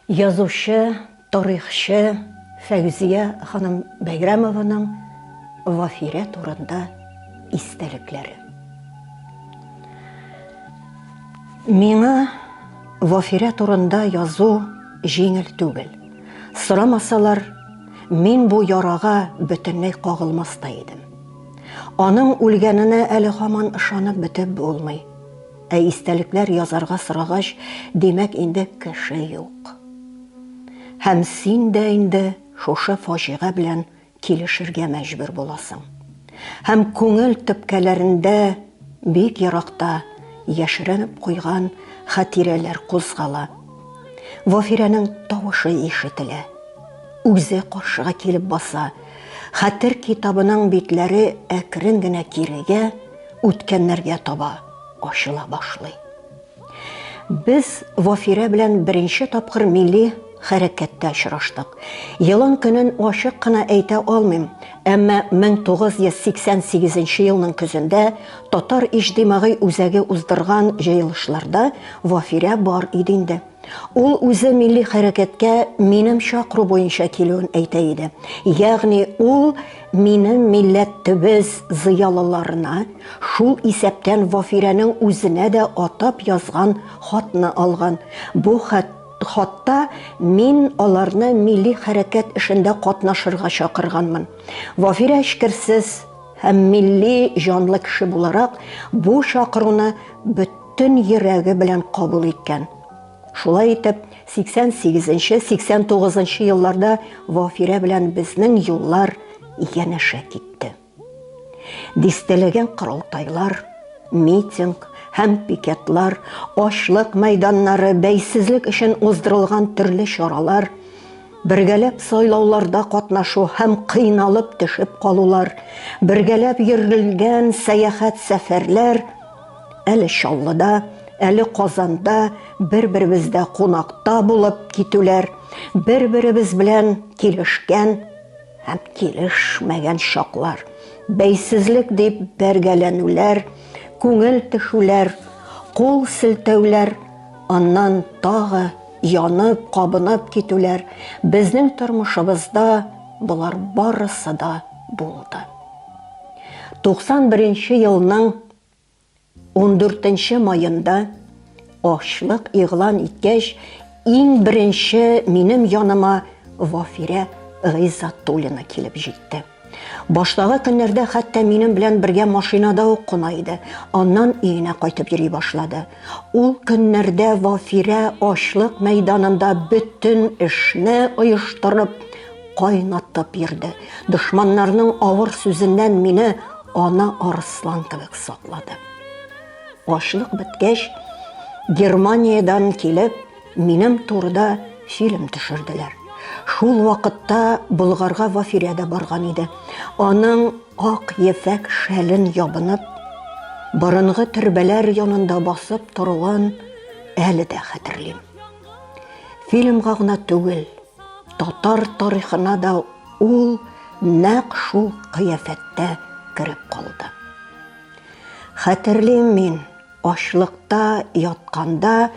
Язучы, тарихчы Фәүзия ханым Бәйрәмованың Вафирә турында истәлекләре. Миңа Вафирә турында язу җиңел түгел. Сорамасалар, мин бу ярага бөтенләй кагылмас та идем. Аның үлгәненә әле һаман ышанып бетеп булмый. Ә истәлекләр язарга сорагач, димәк инде кеше юк. Һәм син дә инде шушы фаҗига белән килешергә мәҗбүр буласың. Һәм күңел төпкәләрендә бик еракта яшеренеп куйган хатирәләр кузгала. Вафирәнең тавышы ишетелә. Үзе каршыга килеп баса. Хәтер китабының битләре әкрен генә кирегә, үткәннәргә таба ачыла башлый. Без Вафирә белән беренче тапкыр милли хәрәкәттә очраштык. Елын көнен ачык кына әйтә алмыйм, әмма 1988 елның көзендә татар иҗтимагый үзәге уздырган җыелышларда Вафирә бар иде инде. Ул үзе милли хәрәкәткә минем чакыру буенча килүен әйтә иде. Ягъни ул минем милләт төбез зыялыларына, шул исәптән Вафирәнең үзенә дә атап язган хатны алган. Бу хат хатта мин аларны милли хәрәкәт эшендә катнашырга чакырганмын. Вафирә эчкерсез һәм милли җанлы кеше буларак, бу чакыруны бөтен төн йөрәге белән кабул иткән. Шулай итеп, 88-89 нчы елларда Вафирә белән безнең юллар янәшә китте. Дистәләгән корылтайлар, митинг, һәм пикетлар, ашлык мәйданнары, бәйсезлек өчен уздырылган төрле чаралар, бергәләп сайлауларда катнашу һәм кыйналып төшеп калулар, бергәләп йөрелгән сәяхәт сәфәрләр Әле Чаллыда, әле Казанда бер-беребездә кунакта булып китүләр, бер-беребез белән килешкән һәм килешмәгән чаклар, бәйсезлек дип бәргәләнүләр, күңел тешүләр, кул селтәүләр, аннан тагы янып, кабынып китүләр, безнең тормышыбызда болар барысы да булды. 91 нче елның 14 маенда ачлык игълан иткәч, иң беренче минем яныма Вафирә Гыйззатуллина килеп җитте. Баштагы көннәрдә хәтта минем белән бергә машинада ук куна иде. Аннан өенә кайтып йөри башлады. Ул көннәрдә Вафирә ачлык мәйданында бөтен эшне оештырып, кайнатып йөрде. Дошманнарның авыр сүзеннән мине Ана арыслан кебек саклады. Ашлык беткәч, Германиядән килеп, минем турыда фильм төшерделәр. Шул вакытта Болгарга Вафирә дә барган иде. Аның ак ефәк шәлен ябынып, борынгы төрбәләр янында басып торуын әле дә хәтерлим. Фильмга гына түгел, Татар тарихына да ул нәкъ шул кыяфәттә кереп калды. Хәтерлим мин, ачлыкта ятканда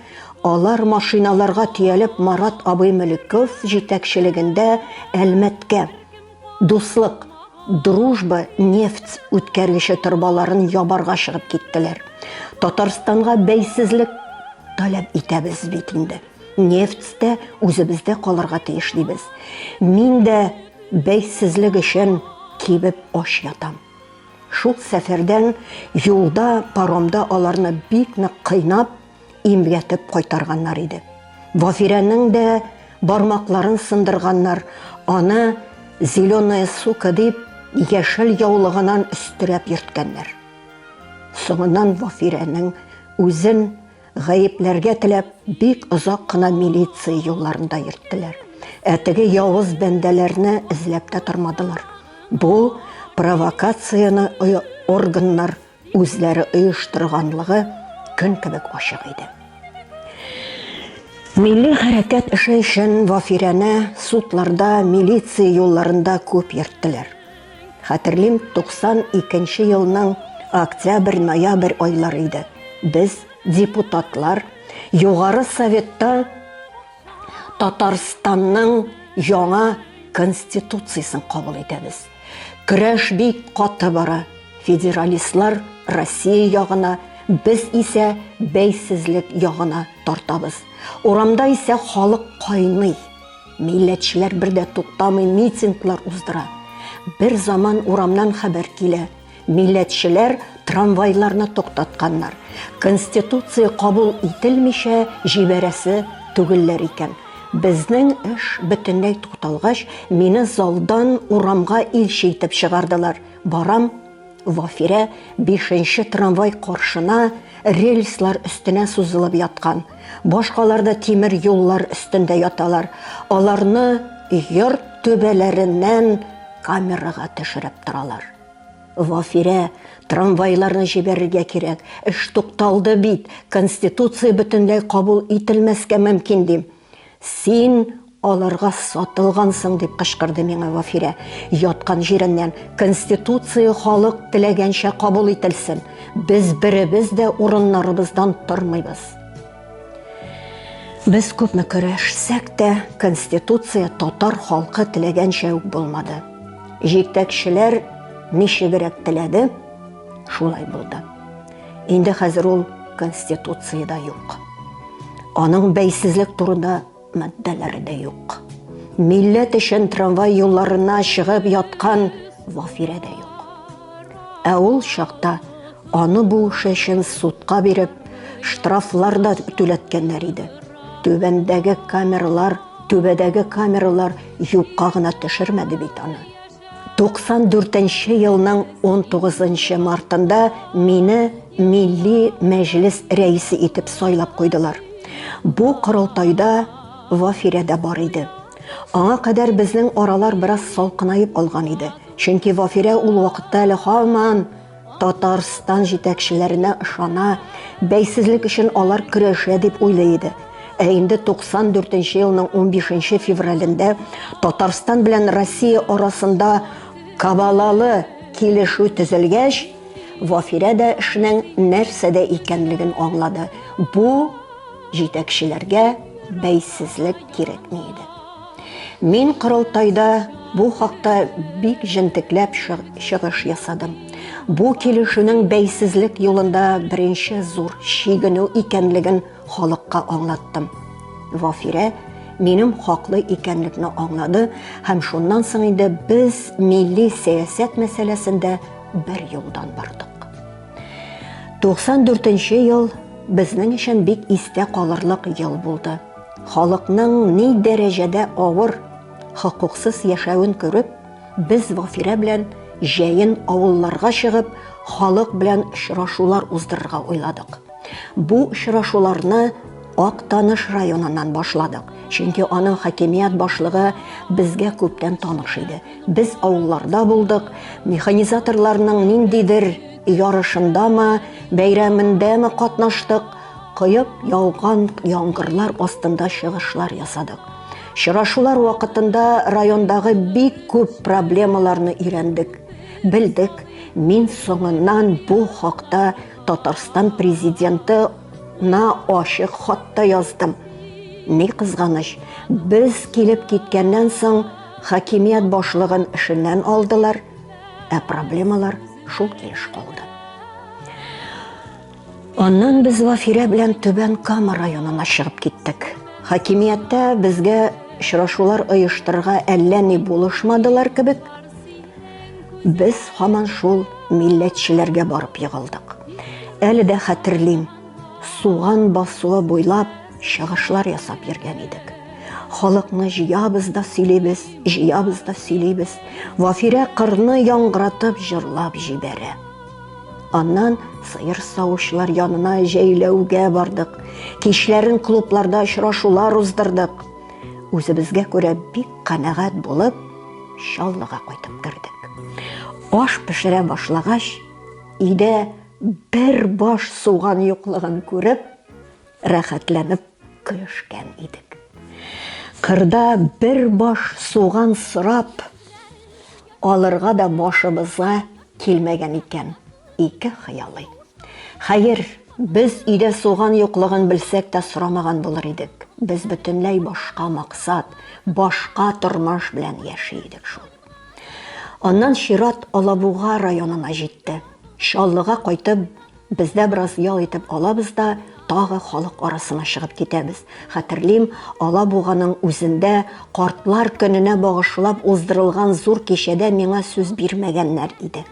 алар машиналарга төялеп Марат абый Мөлеков җитәкчелегендә Әлмәткә Дуслык Дружба нефть үткәргече торбаларын ябарга чыгып киттеләр. Татарстанга бәйсезлек таләп итәбез бит инде. Нефть тә үзебездә калырга тиеш дибез. Мин дә бәйсезлек өчен кибеп ач ятам. Шул сәфәрдән юлда, паромда аларны бик нык кыйнап, имгәтеп кайтарганнар иде. Вафирәнең дә бармакларын сындырганнар, аны зеленая сука дип, яшел яулыгынан өстерәп йөрткәннәр. Соңыннан Вафирәнең үзен Гаепләргә теләп, бик озак кына милиция юлларында йөрттеләр. Ә теге явыз бәндәләрне эзләп тә тормадылар. Бу провокацияне органнар үзләре оештырганлыгы көн кебек ачык иде. Милли хәрәкәт эше өчен Вафирәне судларда, милиция юлларында күп йөрттеләр. Хәтерлим, 92 нче елның октябрь-ноябрь айлары иде. Без, депутатлар, Югары Советта Татарстанның яңа конституциясен кабул итәбез. Көрәш бик каты бара. Федералистлар Россия ягына, без исә бәйсезлек ягына тартабыз. Урамда исә халык кайный. Милләтчеләр бер дә туктамый митинглар уздыра. Бер заман урамнан хәбәр килә. Милләтчеләр трамвайларны туктатканнар. Конституция кабул ителмичә җибәрәсе түгелләр икән. Безнең эш бөтенләй тукталгач, мине залдан урамга илче итеп чыгардылар. Барам, Вафирә бишенче трамвай каршына рельслар өстенә сузылып яткан. Башкалар да тимер юллар өстендә яталар. Аларны йорт төбәләреннән камерага төшереп торалар. Вафирә, трамвайларны җибәрергә кирәк. Эш тукталды бит, конституция бөтенләй кабул ителмәскә мөмкин, дим. Син аларга сатылгансың, дип кычкырды миңа Вафирә, яткан җиреннән. Конституция халык теләгәнчә кабул ителсен. Без беребез дә урыннарыбыздан тормыйбыз. Без күпме көрәшсәк тә, Конституция татар халкы теләгәнчә үк булмады. Җитәкчеләр ничегрәк теләде, шулай булды. Инде хәзер ул Конституциядә юк. Аның бәйсезлек турында маддәләре дә юк. Милләт өчен трамвай юлларына чыгып яткан Вафирә дә юк. Ә ул чакта аны бу эше өчен судка биреп, штрафлар да түләткәннәр иде. Түбәндәге камералар, түбәдәге камералар юкка гына төшермәде бит аны. 94 нче елның 19 нчы мартында мине Милли Мәҗлес рәисе итеп сайлап куйдылар. Бу корылтайда Вафирә дә бар иде. Аңа кадәр безнең аралар бераз салкынаеп алган иде. Чөнки Вафирә ул вакытта әле һаман Татарстан җитәкчеләренә ышана, бәйсезлек өчен алар көрәшә дип уйлый иде. Ә инде 94 нче елның 15 нче февралендә Татарстан белән Россия арасында кабалалы килешү төзелгәч, Вафирә дә эшнең нәрсәдә икәнлеген аңлады, бу җитәкчеләргә бәйсезлек кирәкми иде. Мин корылтайда бу хакта бик җентекләп чыгыш ясадым. Бу килешүнең бәйсезлек юлында беренче зур чигенү икәнлеген халыкка аңлаттым. Вафирә минем хаклы икәнлекне аңлады һәм шуннан соң инде без милли сәясәт мәсьәләсендә бер юлдан бардык. 94 нче ел безнең өчен бик истә калырлык ел булды. Халыкның ни дәрәҗәдә авыр, хокуксыз яшәвен күреп, без Вафирә белән җәен авылларга чыгып, халык белән очрашулар уздырырга уйладык. Бу очрашуларны Актаныш районыннан башладык, чөнки аның хакимият башлыгы безгә күптән таныш иде. Без авылларда булдык, механизаторларның ниндидер ярышындамы, бәйрәмендәме катнаштык. Коеп яуган яңгырлар астында чыгышлар ясадык. Чырашулар вакытында райондагы бик күп проблемаларны өйрәндек, белдек. Мин соңыннан бу хакта Татарстан президенты на ачык хатта яздым. Ни кызганыч, без килеп киткәннән соң хакимият башлыгын эшеннән алдылар, ә проблемалар шул килеш калды. Аннан без Вафирә белән Түбән Кама районына чыгып киттек. Хакимияттә безгә очрашулар оештырырга әллә ни булышмадылар кебек, без һаман шул милләтчеләргә барып егылдык. Әле дә хәтерлим, суган басуы буйлап чыгышлар ясап йөргән идек. Халыкны җыябыз да сөйлибез, җыябыз да сөйлибез. Вафирә кырны яңгыратып җырлап җибәрә. Аннан сыер савучылар янына җәйләүгә бардык. Кичләрен клубларда очрашулар уздырдык. Үзебезгә күрә бик канәгать булып, Чаллыга кайтып кердек. Аш пешерә башлагач, өйдә бер баш суган юклыгын күреп, Рәхәтләнеп көлешкән идек. Кырда бер баш суган сорап алырга да башыбызга килмәгән икән. Ике хыялый. Хәер, без өйдә суган юклыгын белсәк тә сорамаган булыр идек. Без бөтенләй башка максат, башка тормыш белән яши идек шул. Аннан чират Алабуга районына җитте. Чаллыга кайтып, Бездә бераз ял итеп алабыз да, тагы халык арасына чыгып китәбез. Хәтерлим, Алабуганың үзендә Картлар көненә багышлап уздырылган зур кичәдә миңа сүз бирмәгәннәр иде.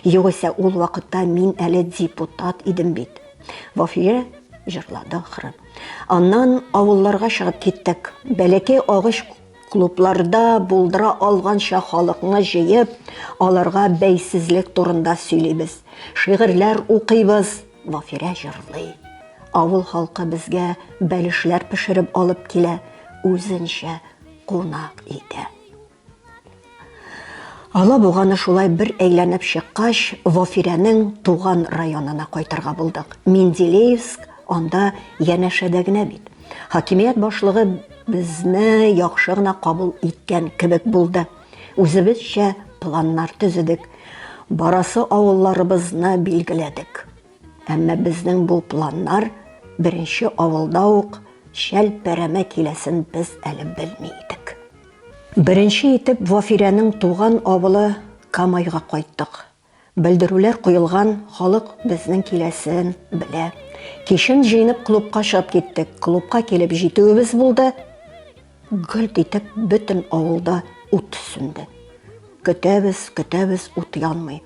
Югыйсә ул вакытта мин әле депутат идем бит. Вафия җырлады ахры. Аннан авылларга чыгып киттек. Бәләкәй агач Клубларда булдыра алганча халыкны җыеп, аларга бәйсезлек турында сөйлибез. Шигырьләр укыйбыз, Вафирә җырлый. Авыл халкы безгә бәлешләр пешереп алып килә, үзенчә кунак итә. Алабуганы шулай бер әйләнеп чыккач, Вафирәнең туган районына кайтырга булдык. Менделеевск анда янәшәдә генә бит. Хакимият башлыгы безне яхшы гына кабул иткән кебек булды. Үзебезчә планнар төзедек. Барасы авылларыбызны билгеләдек. Әмма безнең бу планнар беренче авылда ук чәлпәрәмә киләсен без әле белми идек. Беренче итеп Вафирәнең туган авылы Камайга кайттык. Белдерүләр куелган, халык безнең киләсен белә. Кичен җыенып клубка чыгып киттек. Клубка килеп җитүебез булды, гөлт итеп бөтен авылда ут сүнде. Көтәбез, көтәбез, ут янмый.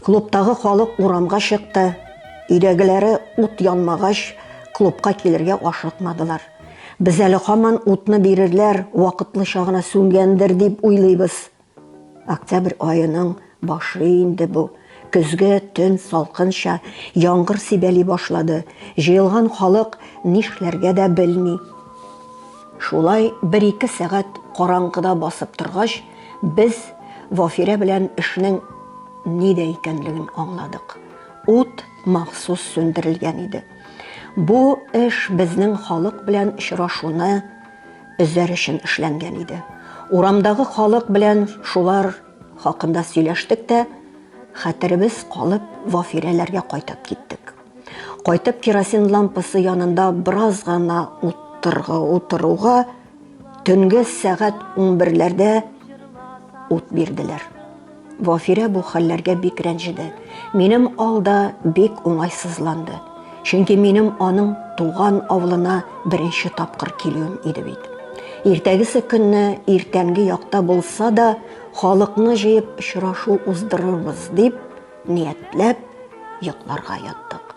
Клубтагы халык урамга чыкты. Өйдәгеләре ут янмагач, клубка килергә ашыкмадылар. Без әле һаман утны бирерләр, вакытлыча гына сүнгәндер дип уйлыйбыз. Октябрь аеның башы инде бу. Көзге төн салкынча, яңгыр сибәли башлады. Җыелган халык нишләргә дә белми. Шулай бер-ике сәгать караңгыда басып торгач, без Вафирә белән эшнең нидә икәнлеген аңладык. Ут махсус сүндерелгән иде. Бу эш безнең халык белән очрашуны өзәр өчен эшләнгән иде. Урамдагы халык белән шулар хакында сөйләштек тә, хәтеребез калып, Вафирәләргә кайтып киттек. Кайтып керосин лампасы янында бераз гына утырга утыруга төнге сәгать 11-ләрдә ут бирделәр. Вафирә бу хәлләргә бик рәнҗеде. Минем алда бик уңайсызланды. Чөнки минем аның туган авылына беренче тапкыр килүем иде бит. Иртәгесе көнне иртәнге якта булса да, халыкны җыеп очрашу уздырырбыз, дип, Ниятләп йокларга яттык.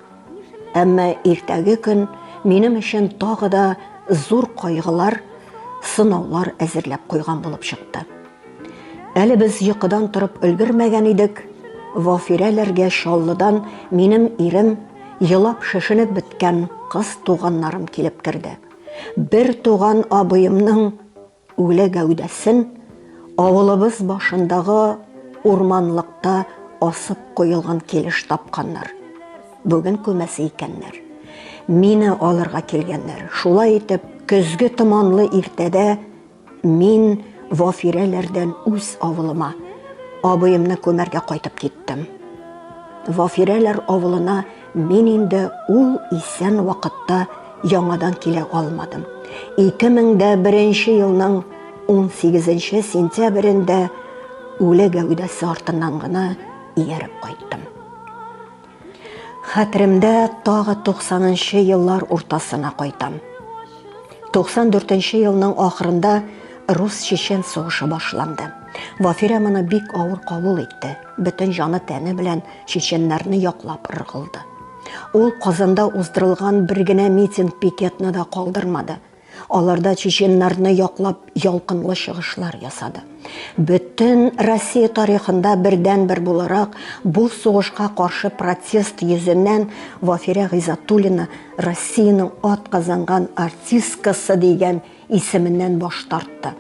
Әмма иртәге көн минем өчен тагы да зур кайгылар, сынаулар әзерләп куйган булып чыкты. Әле без йокыдан торып өлгермәгән идек, Вафирәләргә Чаллыдан минем ирем, елап шешенеп беткән кыз туганнарым килеп керде. Бер туган абыемның Үле гәүдәсен авылыбыз башындагы урманлыкта асып куелган килеш тапканнар. Бүген күмәсе икәннәр. Мине алырга килгәннәр. Шулай итеп, көзге томанлы иртәдә мин Вафирәләрдән үз авылыма, абыемны күмәргә кайтып киттем. Вафирәләр авылына Мин инде ул исән вакытта яңадан килә алмадым. 2001 елның 18 сентябрендә үле гәүдәсе артыннан гына ияреп кайттым. Хәтеремдә тагы 90 еллар уртасына кайтам. 94 елның ахырында рус-чечен сугышы башланды. Вафирә моны бик авыр кабул итте. Бөтен җаны-тәне белән Чеченнарны яклап ыргылды. Ул Казанда уздырылган бер генә митинг-пикетны да калдырмады. Аларда чеченнарны яклап ялкынлы чыгышлар ясады. Бөтен Россия тарихында бердәнбер буларак бу сугышка каршы протест йөзеннән Вафирә Гыйзатуллина Россиянең атказанган артисткасы дигән Исеменнән баш тартты.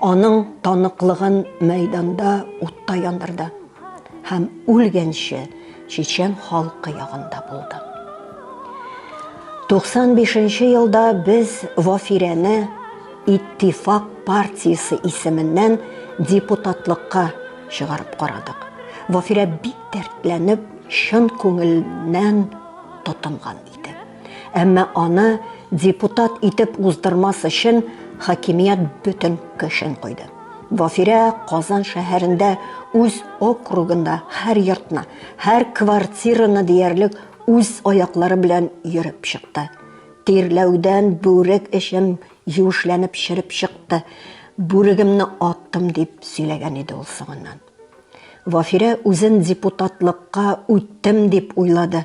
Аның таныклыгын мәйданда утта яндырды. Һәм үлгәнче чечен халкы ягында булды. 95 нче елда без Вафирәне Иттифак партиясе исеменнән депутатлыкка чыгарып карадык. Вафирә бик дәртләнеп, чын күңелнән тотынган иде. Әмма аны депутат итеп уздырмас өчен хакимият бөтен көчен куйды. Вафирә Казан шәһәрендә үз округында һәр йортны, һәр квартираны диярлек үз аяклары белән йөреп чыкты. Тирләүдән бүрек эчем юешләнеп чиреп чыкты. Бүрегемне аттым дип сөйләгән иде ул соңыннан. Вафирә үзен депутатлыкка үттем дип уйлады,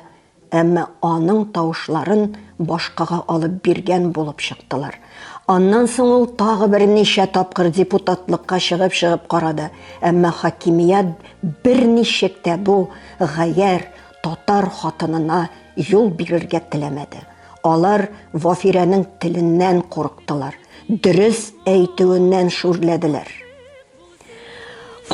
Әмма аның тавышларын башкага алып биргән булып чыктылар. Аннан соң ул тагы берничә тапкыр депутатлыкка чыгып-чыгып карады, әмма хакимият берничек тә бу гаярь татар хатынына юл бирергә теләмәде. Алар Вафирәнең теленнән курыктылар, дөрес әйтүеннән шүрләделәр.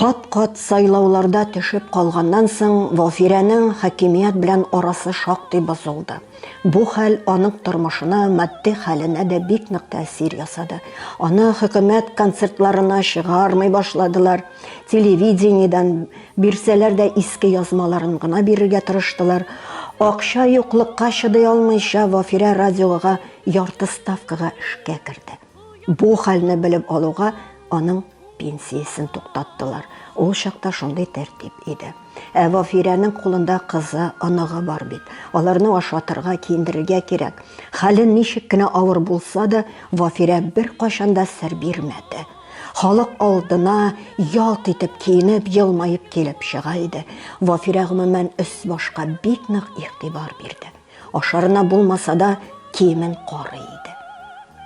Кат-кат сайлауларда төшеп калганнан соң Валфирәнең хакимият белән арасы шактый бозылды. Бу хәл аның тормышына, матди хәленә дә бик нык тәэсир ясады. Аны хөкүмәт концертларына чыгармый башладылар, телевидениедән бирсәләр дә иске язмаларын гына бирергә тырыштылар. Акча юклыкка чыдый алмыйча, Валфирә радиога ярты ставкага эшкә керде. Бу хәлне белеп алуга, аның пенсиясен туктаттылар. Ул чакта шундый тәртип иде. Ә Вафирәнең кулында кызы, оныгы бар бит. Аларны ашатырга, киендерергә кирәк. Хәле ничек кенә авыр булса да, Вафирә беркайчан да сер бирмәде. Халык алдына ялт итеп киенеп, елмаеп килеп чыга иде. Вафирә, гомумән, өс-башка бик нык игътибар бирде. Ашарына булмаса да, киемен карый иде.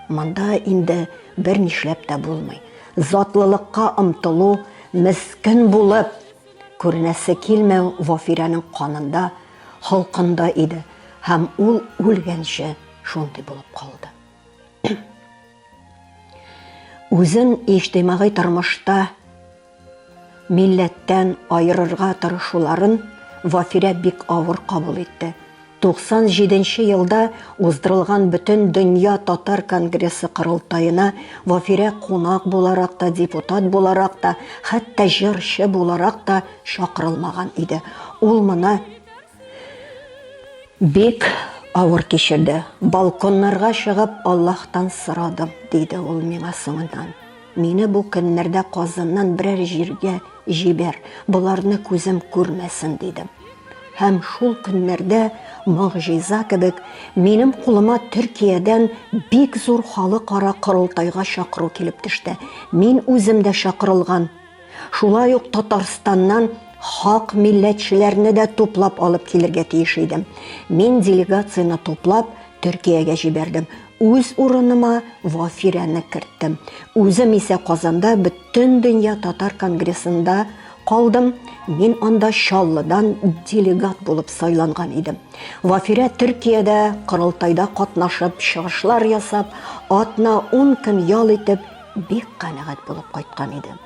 Монда инде бер нишләп тә булмый. Затлылыкка омтылу, мескен булып, күренәсе килмәү Вафирәнең канында, холкында иде һәм ул үлгәнче шундый булып калды. Үзен иҗтимагый тормышта Милләттән аерырга тырышуларын Вафирә бик авыр кабул итте. 97 нче елда уздырылган Бөтен дөнья татар конгрессы корылтаена Вафирә кунак буларак та, депутат буларак та, хәтта җырчы буларак та чакырылмаган иде. Ул моны Бик авыр кичерде. Балконнарга чыгып, Аллаһтан сорадым, диде ул миңа соңыннан. Мине бу көннәрдә Казаннан берәр җиргә җибәр, боларны күзем күрмәсен, дидем. Һәм шул көннәрдә, могҗиза кебек, минем кулыма Төркиядән бик зур халыкара корылтайга чакыру килеп төште. Мин үзем дә чакырылган. Шулай ук Татарстаннан хак милләтчеләрне дә туплап алып килергә тиеш идем. Мин делегацияне туплап Төркиягә җибәрдем. Үз урыныма Вафирәне керттем. Үзем исә Казанда бөтен дөнья татар конгрессында калдым. Мин анда Чаллыдан делегат булып сайланган идем. Вафирә Төркиядә корылтайда катнашып, чыгышлар ясап, атна-ун көн ял итеп, Бик канәгать булып кайткан идем.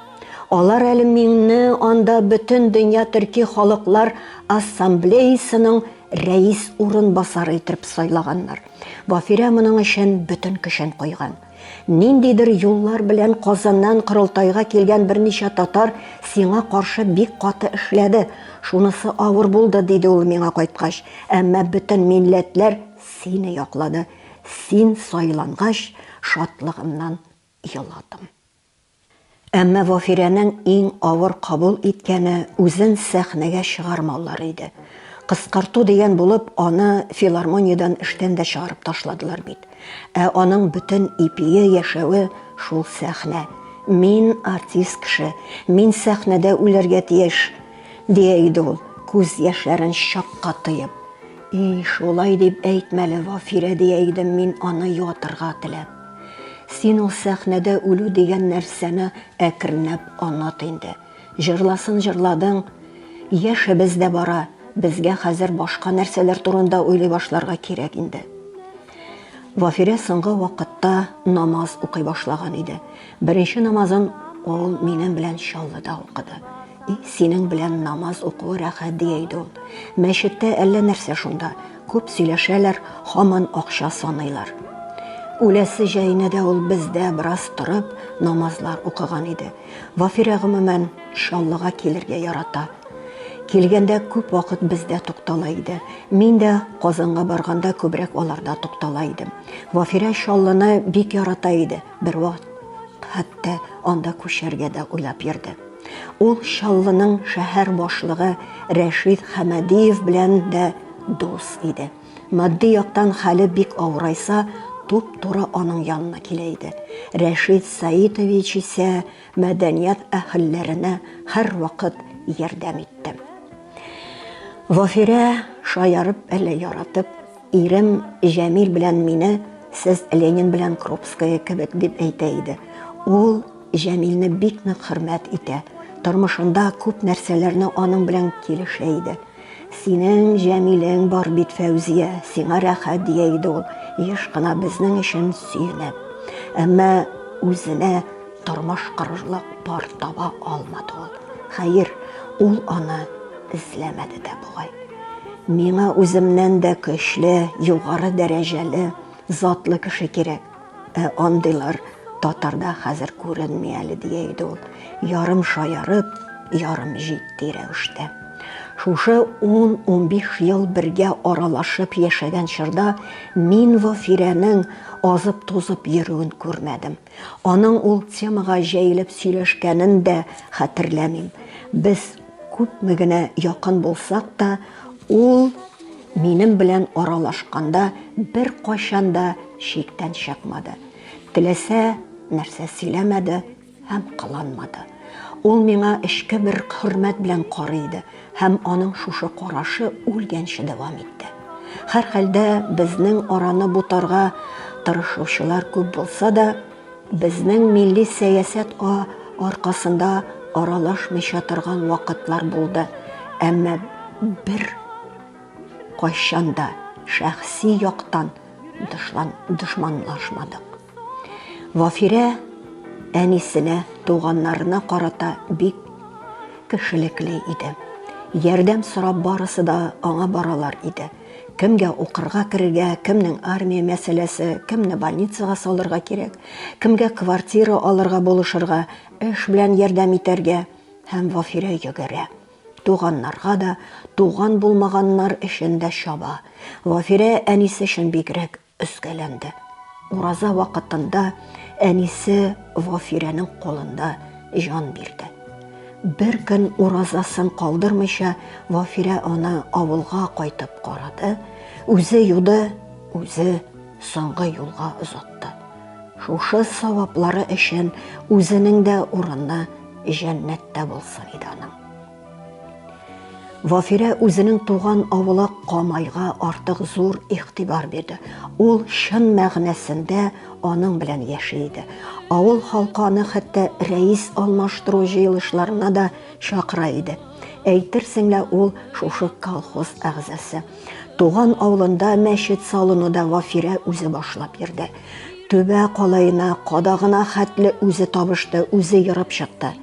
Алар әле мине анда бөтен дөнья төрки халыклар ассамблеясының рәис урынбасары итеп сайлаганнар. Бафирә моның өчен бөтен көчен куйган. Ниндидер юллар белән Казаннан корылтайга килгән берничә татар сиңа каршы бик каты эшләде. Шунысы авыр булды, диде ул миңа кайткач. Әмма бөтен милләтләр сине яклады. Син сайлангач, шатлыгымнан еладым. Әмма Вафирәнең иң авыр кабул иткәне үзен сәхнәгә чыгармаулары иде. Кыскарту дигән булып, аны филармониядән эштән дә чыгарып ташладылар бит. Ә аның бөтен ипие, яшәве шул сәхнә. Мин артист кеше, мин сәхнәдә үләргә тиеш, дия иде ул, күз яшьләрен чакка тыеп. И, шулай дип әйтмәле, Вафирә, дия идем мин аны юатырга теләп. Син ул сәхнәдә үлү дигән нәрсәне әкренләп онат инде. Җырласын җырладың, яшебез дә бара, безгә хәзер башка нәрсәләр турында уйлый башларга кирәк инде. Вафирә соңгы вакытта намаз укый башлаган иде. Беренче намазын ул минем белән Чаллыда укыды. И, синең белән намаз укуы рәхәт, дия иде ул. Мәчеттә әллә нәрсә шунда. Күп сөйләшәләр, һаман акча саныйлар. Үләсе җәенә дә ул бездә бераз торып, намазлар укыган иде. Вафирә гомумән Чаллыга килергә ярата. Килгәндә күп вакыт бездә туктала иде. Мин дә Казанга барганда күбрәк аларда туктала идем. Вафирә Чаллыны бик ярата иде. Бервакыт хәтта анда күчәргә дә уйлап йөрде. Ул Чаллының шәһәр башлыгы Рәшид Хәмәдиев белән дә дус иде. Матди яктан хәле бик авырайса, туп-туры аның янына килә иде. Рәшид Саитович исә мәдәният әһелләренә һәрвакыт ярдәм итте. Вафирә шаярып әллә яратып Ирем Җәмил белән мине сез Ленин белән Крупская кебек дип әйтә иде. Ул Җәмилне бик нык хөрмәт итә. Тормышында күп нәрсәләрне аның белән килешә иде. Синең Җәмилең бар бит, Фәүзия, сиңа рәхәт, дия иде ул, еш кына безнең өчен сөенеп. Әмма үзенә Тормыш кырырлык пар таба алмады ул. Хәер, ул аны эзләмәде дә бугай. Миңа үземнән дә көчле, югары дәрәҗәле, затлы кеше кирәк. Ә андыйлар татарда хәзер күренми әле, дия иде ул, ярым шаярып, ярым җитди рәвештә. Шушы 10-15 ел бергә аралашып яшәгән чорда мин Вафирәнең азып-тузып йөрүен күрмәдем. Аның ул темага җәелеп сөйләшкәнен дә хәтерләмим. Без күпме генә якын булсак та, ул минем белән аралашканда беркайчан да чиктән чыкмады. Теләсә нәрсә сөйләмәде һәм кыланмады. Ул миңа эчке бер хөрмәт белән карый иде. Һәм аның шушы карашы үлгәнче дәвам итте. Һәрхәлдә, безнең араны бутарга тырышучылар күп булса да, безнең милли сәясәт а аркасында аралашмыйча торган вакытлар булды, әмма бер кайчан да шәхси яктан дышлан дошманлашмадык. Вафирә әнисенә, туганнарына карата бик кешелекле иде. Ярдәм сорап барысы да аңа баралар иде. Кемгә укырга керергә, кемнең армия мәсьәләсе, кемне больницага салырга кирәк, кемгә квартира алырга булышырга, эш белән ярдәм итәргә һәм Вафирә йөгерә. Туганнарга да, туган булмаганнар өчен дә чаба. Вафирә әнисе өчен бигрәк Өскәләнде. Ураза вакытында әнисе Вафирәнең кулында җан бирде. Бер көн уразасын калдырмыйча Вафирә аны авылга кайтып карады, үзе юды, үзе соңгы юлга озатты. Шушы саваплары өчен үзенең дә урыны җәннәттә булсын иде аның. Вафирә үзенең туган авылы Камайга артык зур игътибар бирде. Ул чын мәгънәсендә аның белән яши иде. Авыл халкы аны хәтта рәис алмаштыру җыелышларына да чакыра иде. Әйтерсең лә ул шушы колхоз әгъзасы. Туган авылында мәчет салуны да Вафирә үзе башлап йөрде. Төбә калаена, кадагына хәтле үзе табышты, үзе ерып чыкты.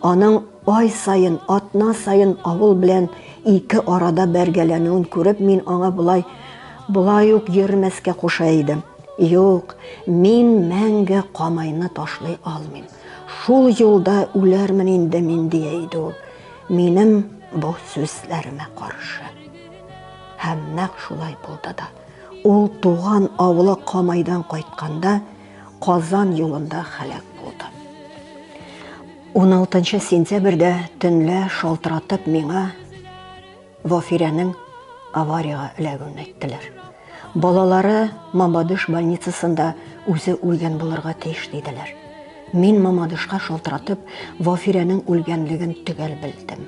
Аның Ай саен, атна саен авыл белән ике арада бәргәләнүен күреп, мин аңа болай, болай ук йөрмәскә куша идем. Юк, мин мәңге Камайны ташлый алмыйм. Шул юлда үләрмен инде мин, дия иде ул, минем бу сүзләремә каршы. Һәм нәкъ шулай булды да. Ул туган авылы Камайдан кайтканда, Казан юлында хәләк булды. 16 сентябрьдә төнлә шалтыратып миңа Вофирәнең авариягә эләгүен әйттеләр. Балалары Мамадыш больницасында үзе үлгән булырга тиеш диделәр. Мин Мамадышка шалтыратып, Вафирәнең үлгәнлеген төгәл белдем.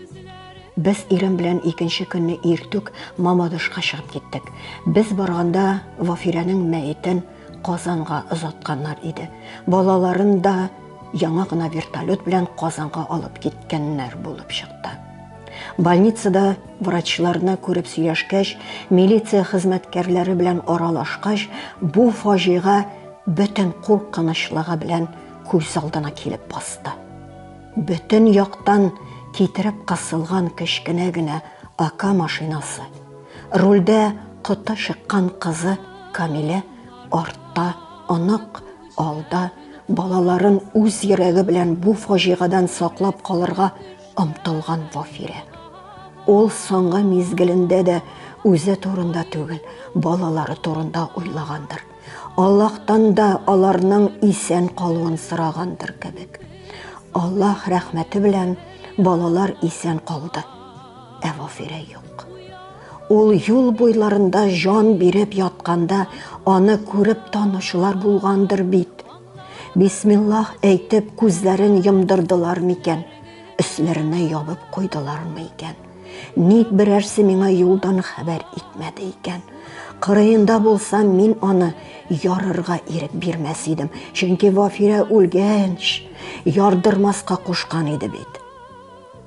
Без ирем белән икенче көнне иртүк Мамадышка чыгып киттек. Без барганда Вафирәнең мәетен Казанга озатканнар иде. Балаларын да яңа гына вертолет белән Казанга алып киткәннәр булып чыкты. Больницада врачларны күреп сөйләшкәч, милиция хезмәткәрләре белән аралашкач, бу фаҗига бөтен куркынычлыгы белән күз алдына килеп басты. Бөтен яктан китереп кысылган кечкенә генә АК машинасы, Рольдә коты чыккан кызы Камилә артта, онык, алда, балаларын үз йөрәге белән бу фаҗигадан саклап калырга омтылган Вафирә. Ул соңгы мизгелендә дә үзе турында түгел, балалары турында уйлагандыр. Аллаһтан да аларның исән калуын сорагандыр кебек. Аллаһ рәхмәте белән балалар исән калды. Ә Вафирә юк. Ул юл буйларында җан биреп ятканда, аны күреп танучылар булгандыр бит. Бисмиллах әйтеп, күзләрен йомдырдылар микән? Өсләренә ябып куйдылармы икән? Ник берәрсе миңа юлдан хәбәр итмәде икән? Кырыенда булсам, мин аны ярырга ирек бирмәс идем, чөнки Вафирә үлгәнч ярдырмаска кушкан иде бит.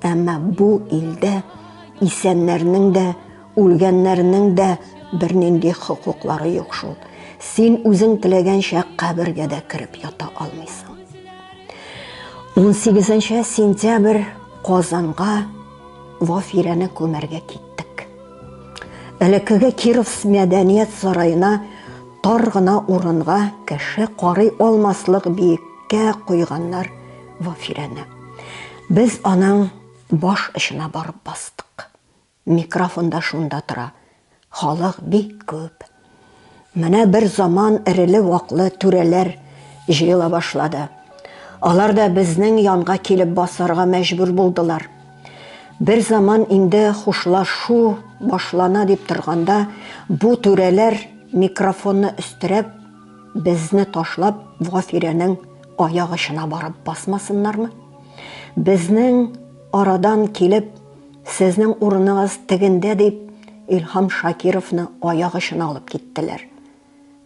Әмма бу илдә исәннәрнең дә, үлгәннәрнең дә бернинди хокуклары юк шул. Син үзең теләгәнчә кабергә дә кереп ята алмыйсың. 18 сентябрь Казанга Вафирәне күмәргә киттек. Элеккеге Киров мәдәният сараена тар гына урынга кеше карый алмаслык биеккә куйганнар Вафирәне. Без аның баш очына барып бастык. Микрофон да шунда тора. Халык бик күп. Менә бер заман эреле-ваклы түрәләр җыела башлады. Алар да безнең янга килеп басарга мәҗбүр булдылар. Бер заман инде хушлашу башлана дип торганда, бу түрәләр микрофонны өстерәп Безне ташлап, Вафирәнең аяк очына барып басмасыннармы? Безнең арадан килеп, сезнең урыныгыз тегендә дип, Илһам Шакировны аяк очына алып киттеләр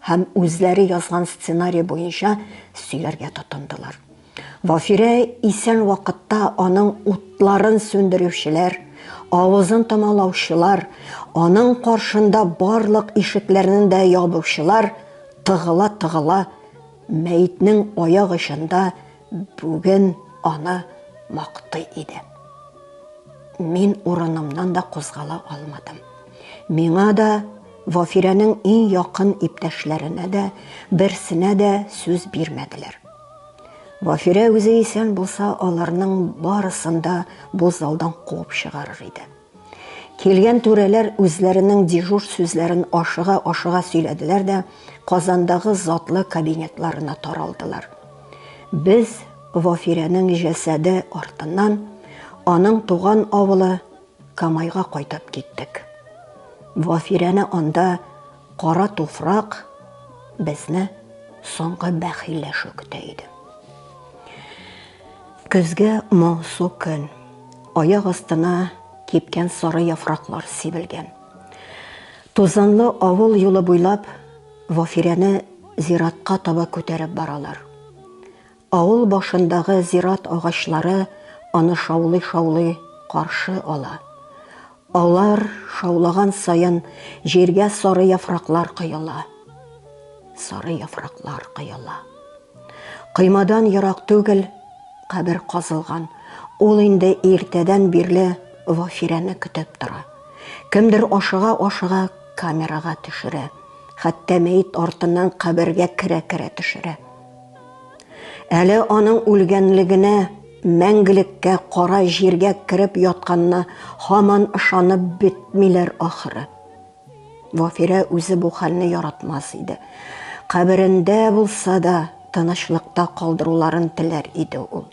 һәм үзләре язган сценарий буенча сөйләргә тотындылар. Вафирә исән вакытта аның утларын сүндерүчеләр, авызын томалаучылар, аның каршында барлык ишекләрнен дә ябучылар тыгыла-тыгыла мәетнең аяк очында бүген аны мактый иде. Мин урынымнан да кузгала алмадым. Миңа да, Вафирәнең иң якын иптәшләренә дә берсенә дә сүз бирмәделәр. Вафирә үзе исән булса, аларның барысын да бу залдан куып чыгарыр иде. Килгән түрәләр үзләренең дежур сүзләрен ашыга-ашыга сөйләделәр дә Казандагы затлы кабинетларына таралдылар. Без Вафирәнең җәсәде артыннан аның туган авылы Камайга кайтып киттек. Вафирәне анда Кара туфрак безне соңгы бәхилләшү көтә иде. Көзге моңсу көн, аяк астына кипкән сары яфраклар сибелгән. Тузанлы авыл юлы буйлап Вафирәне зиратка таба күтәреп баралар. Авыл башындагы зират агачлары аны шаулый-шаулый каршы ала. Алар шаулаган саен җиргә сары яфраклар коела. Сары яфраклар коела. Коймадан ерак түгел кабер казылган. Ул инде иртәдән бирле Вафирәне көтеп тора. Кемдер ашыга-ашыга камерага төшерә. Хәтта мәет артыннан кабергә керә-керә төшерә. Әле аның үлгәнлегенә, мәңгелеккә кара җиргә кереп ятканына һаман ышанып бетмиләр ахыры. Вафирә үзе бу хәлне яратмас иде. Каберендә булса да, тынычлыкта калдыруларын теләр иде ул.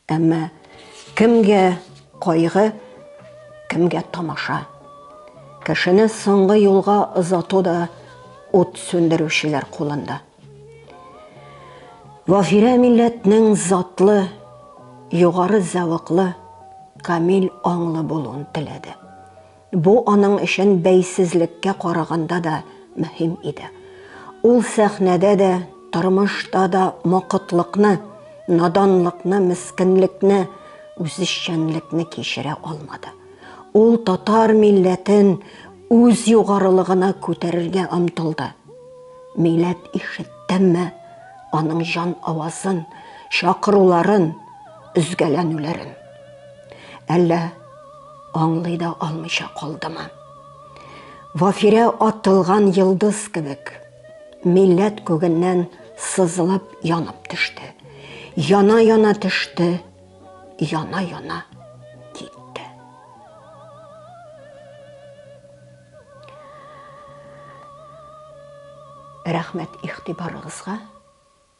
Әмма кемгә кайгы, кемгә тамаша. Кешене соңгы юлга озату да ут сүндерүчеләр кулында. Вафирә милләтнең затлы, югары зәвыклы, камил аңлы булуын теләде. Бу аның өчен бәйсезлеккә караганда да мөһим иде. Ул сәхнәдә дә, тормышта да мокытлыкны, наданлыкны, мескенлекне, үзешчәнлекне кичерә алмады. Ул татар милләтен үз югарылыгына күтәрергә омтылды. Миләт ишеттеме аның җан авазын, чакыруларын, өзгәләнүләрен? Әллә аңлый да алмыйча калдымы? Вафирә атылган йылдыз кебек, милләт күгеннән сызылып янып төште. Яна-яна төште, яна-яна китте. Рәхмәт ихтибарыгызга.